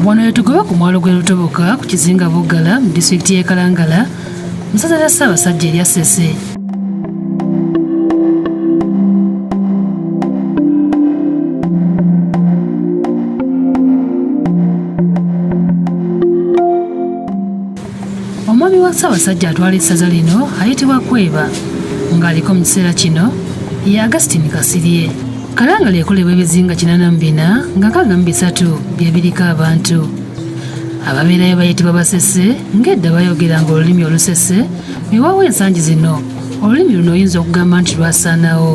wano wetugoba ku mwalo gwe lutoboka ku kizinga buggala mu disitulikiti y'e kalangala musaza lya ssaabasajja erya sese ssaabasajja atwala essaza lino ayitibwa kweba ng'aliko mu kiseera kino ye augustin kasirye kalangala ekolebwa ebizinga 84 nga kaga mu bisatu bye biriko abantu ababeerayo bayitibwa basese ng'edda bayogeranga olulimi olusese miwawo ensangi zino olulimi luno oyinza okugamba nti lwasaanawo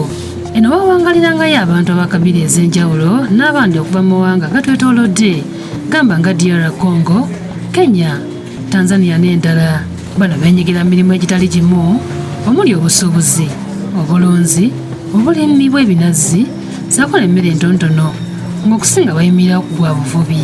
eno bawangalirangayo abantu abakabiri ez'enjawulo n'abandi okuva mu mawanga gatwetoolodde gamba nga dr congo kenya tanzania n'endala bano benyigira mu mirimu egitali gimu omuli obusuubuzi obulunzi obulimi bw'ebinazi zakola emmere entontono ng'okusinga bayimirira ku gwa buvubi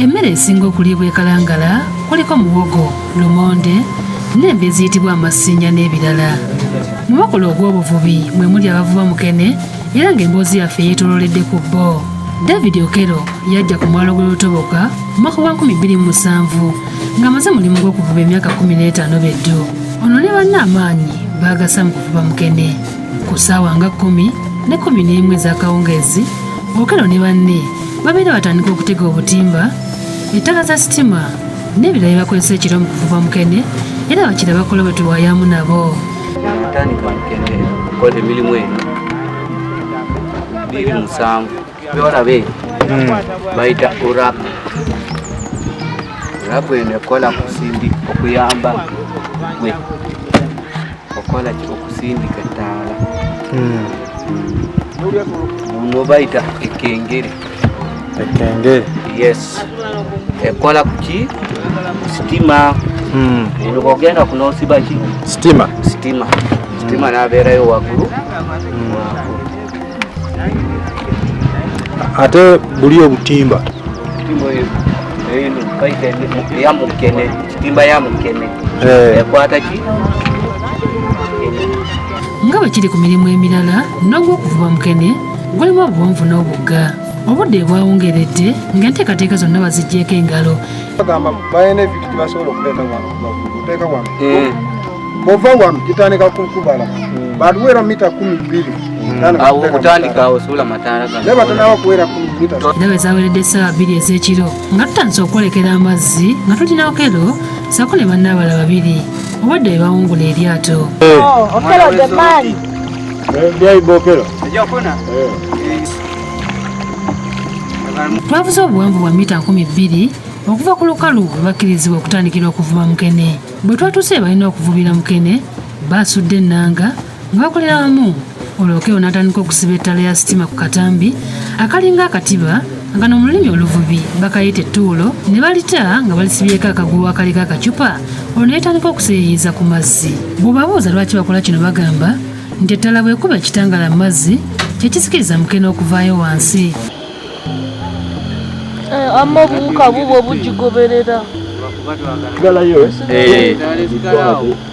emmere esinga okuliibwa ekalangala kuliko muwogo lumonde n'embi eziyitibwa amasinja n'ebirala mu bakola ogw'obuvubi mwe muli abavuba mukene era ng'emboozi yaffe yeetololedde ku bbo david okero yajja ku mwalo gw'e lutoboka mu mwaka gwa 2007 ng'amaze mulimu gw'okuvuba emyaka 15 beddu ono ne banne amaanyi baagasa mu kuvuba mukene ku ssaawa nga 1 ne 1 n'emu ez'akawungeezi okero ne banne babeera batandika okutega obutimba ettaka za sitima n'ebirala bye bakozesa ekiro mu kuvuba mukene era bakira bakola bwe tuwayaamu nabo kola emirimu eno biri musanvu byolabe hmm. bayita urapu urapu eno ekola kusindi okuyamba gwe okola okusindika ettaala hmm. hmm. muno bayita ekengere Ekenge. Yes. Ekola kuki? Stima. Mm. Nilokogenda kunosiba ki? Stima. Stima. Stima mm. nabeerayo waggulu. Mm. Ate buli obutimba. Timbo eyo. Eyo kaite ya mukene. Timba ya mukene. Eh. Ekwata ki? Nga bwe kiri ku mirimu emirala n'ogw'okuvuba mukene gulimu obuwanvu n'obugga obudde bwawungeredde ng'enteekateeka zonna baziggyeko engalo bagamba balina ebintu gyebasobola okuleeta wano okuteeka wano hmm. bova wano gitandika kukubala hmm. batuweera mita kumi bbiri endaba ezaweredde essaawa bbiri ez'ekiro nga tutandise okwolekera amazzi nga tulina okero saako ne bannaabala babiri obadde bebawungula eryato oh, twavuze obuwanvu bwa mita nkumi bbiri okuva ku lukalu we bakkirizibwa okutandikira okuvuba mukene bwe twatuuse balina okuvubira mukene baasudde ennanga nga bakolera wamu olwokewo n'atandika okusiba ettala ya sitima ku katambi akalinga akatiba Kano mu lulimi oluvubi bakayita ettuulo ne balita nga balisibyeko akaguwa akaliko akacupa olwo ne litandika okuseeyeeyeza ku mazzi bw'obabuuza lwaki bakola kino bagamba nti ettala bw'ekuba ekitangaala mu mazzi kye kisikiriza mukene okuvaayo wansi eh, amma obuwuka bubwo bugigoberera eh.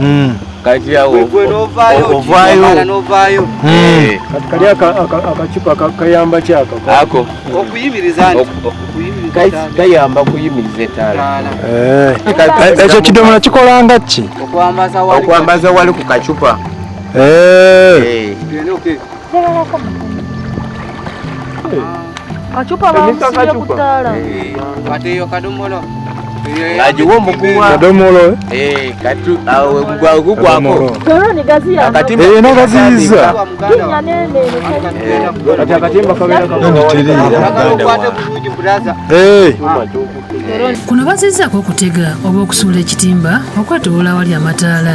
mm. kati awo ovaayo novaayo hmm. eh. kati kali akacupa kayamba kyako ako okuyimiriza kayamba kuyimiriza etaala eh. eh, ekyo kidomola kikolanga ki okwambaza wali ku kacupa kacupa bamusimye ku ttaala kati eyo kadomola agiwa omuguwa kadomolo gugwakoeyo nagaziyiza kuno bazizaako okutega oba okusuula ekitimba okwetowola awali amataala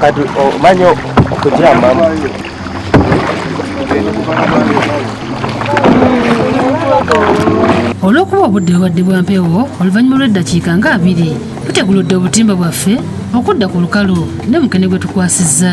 kati omanya okutyamamu olw'okuba obudde bubadde bwa mpewo oluvannyuma lw'eddakiika nga abiri tuteguludde obutimba bwaffe okudda ku lukalu ne mukene gwe tukwasizza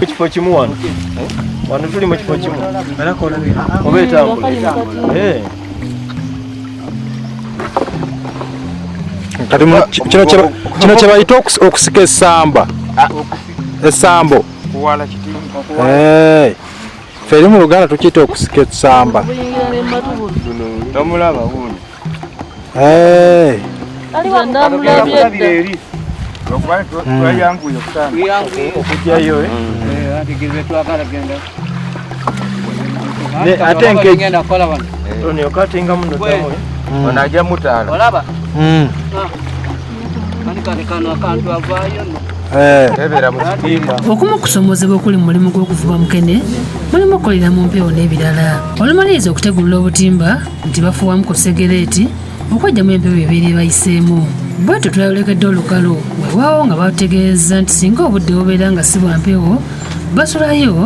ekifo kimu wano wano tuli mu kifo kimu oba etambula kino kyebayita okusika esamba ah. esambo feri mu luganda tukiyita okusika esamba Hey. ate nkegenda kola wano onyo katinga muno dawe ono ajja mutaala olaba okumu okusomozebwa okuli mu mulimu gw'okuvuba mukene mulimu okukolera mu mpewo n'ebirala olumaliriza okutegulula obutimba nti bafuwamu ku segereeti okwejjamu empewo ebeera ebayiseemu bwetyo twayolekedde olukalo wewaawo nga batutegeeza nti singa obudde bubeera nga si bwa mpewo basulayo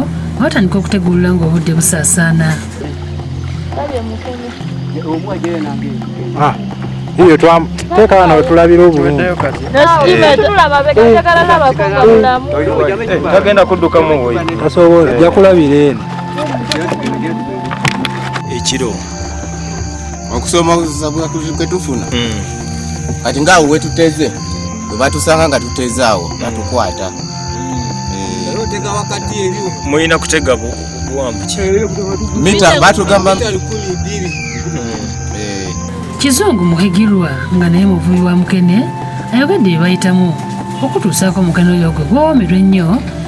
batandika okutegulula ng'obudde busaasaana ah, iyo twamuteka wano wetulabira obulungitagenda kuddukamu ojakulabira eno ekiro okusoma kwetufuna hmm. kati ngaawo wetuteze webatusanga nga tuteze awo hmm. batukwata hmm. eh. mulina kutega mita batugamba eh. kizungu muhigirwa nga naye muvubi wa mukene ayogedde bye bayitamu okutuusaako mukene oyo gwe gwowomerwa ennyo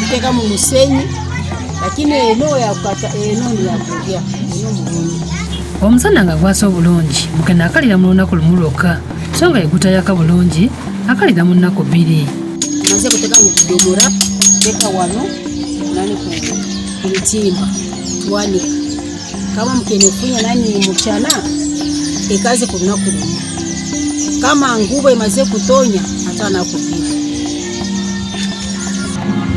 tuteka mu musenyi lakini eno yakukata eno ni yakulya eno mulungi omusana nga gwasa obulungi mukene akalira mu lunaku lumu lwokka so nga yegutayaka bulungi akalira mu nnaku bbiri maze kuteka mu kudogora teka wano nani ku mitimba twanika kama mukene ofunya nani muchana ekaze ku lunaku lumu kama ngubo emaze kutonya atanaku bbiri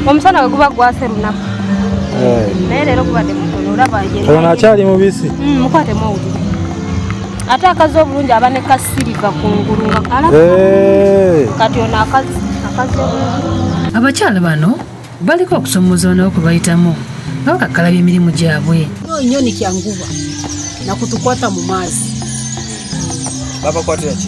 omusana we guba gwase lunaku eh. naye leero gubadde mutono olaba ono akyali mubisi mm, mukwatemu owuli ate akazi obulungi aba ne kasiriva ku ngulu nga kala eh. kati ono akazi akazi obulungi abakyala bano baliko okusomooza banawo kwe bayitamu nga bakakkalabya emirimu gyabwe nyoni kyanguba nakutukwata mu maazi babakwatira ki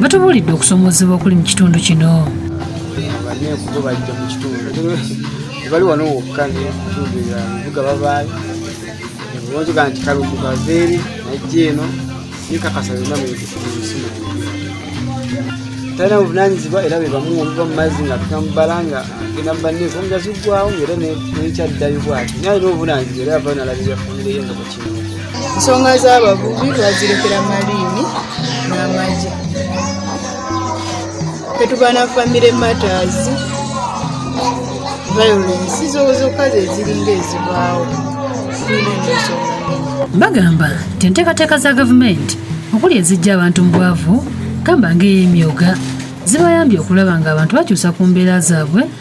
batubuulidde okusomoozebwa okuli mu kitundu kino abanenfugo bajja mu kitundu bali wano wokka nekitundu ebibuga babaayo bonzoga nti kalumbu kaveeri najja eno nikakasa byonna munsi talina buvunanyizibwa era bebamu obuva mu mazzi nga tuka mubala nga genda mubanenfu omugazi ggwawo ngaera nekyaddayo bwati naye alina obuvunanyizibwa era yava nalabirira famireyo nga ensonga z'abavubi bazirekera maliini n'amagye tetuba na famire matters violence zozokka zeziringa ezibaawo tulina ensonga bagamba nti enteekateeka za gavumenti okuli ezijja abantu mu bwavu gamba ng'ey'emyoga zibayambye okulaba ng'abantu bakyusa ku mbeera zaabwe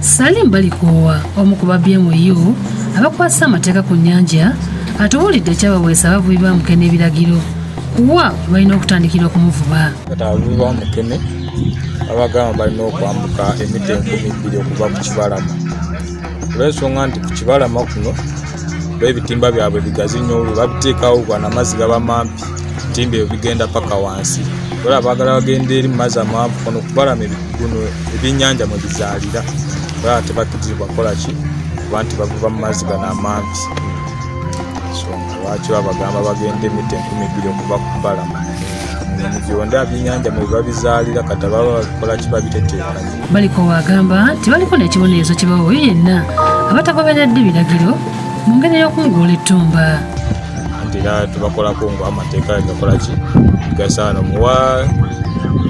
Salim Balikoowa omu ku ba BMU abakwasisa amateeka ku nnyanja atubuulidde ekyabaweesa abavubi ba mukene ebiragiro kuwa balina okutandikira okumuvuba abavubi ba mukene abagamba balina okwambuka emita enkumi bbiri okuva ku kibalama olwensonga nti ku kibalama kuno ebitimba byabwe bigazi nnyo babiteekawo gwana amazzi gaba mampi ebitimba ebyo bigenda paka wansi ola abagala bagenda eri mumazi amaanvu kono kubalama ebiguno ebyenyanja mwe bizaalira olaba tebakirizibwa kukola ki kuba nti bavuba mu mazzi gano amangi songa lwaki babagamba bagenda emita enkumi bbiri okuva ku balama byonda byenyanja mwe biba bizaalira kata baba babikola ki babiteteekanye baliko waagamba nti baliko n'ekibonerezo kibawoyo yenna abatagoberedde biragiro mu ngeri y'okunguula ettumba anti era tubakolako nga amateeka gakola ki gasaana omuwa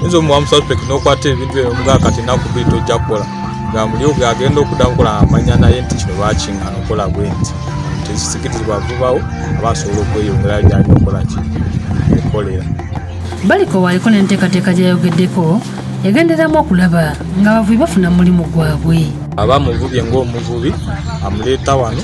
nze omuwa mususpect nokwata ebintu ebyo omuga kati naku biri tojja kukola nga muli oge agenda okuda nkola amanya naye nti kino lwaki nga nokola bwe nti tekisikitizibwa vubawo aba asobola okweyongera lyalina okukola ki ekolera baliko waliko n'enteekateeka gyeyayogeddeko yagenderamu okulaba ng'abavubi bafuna mulimu gwabwe aba muvubye ng'omuvubi amuleeta wano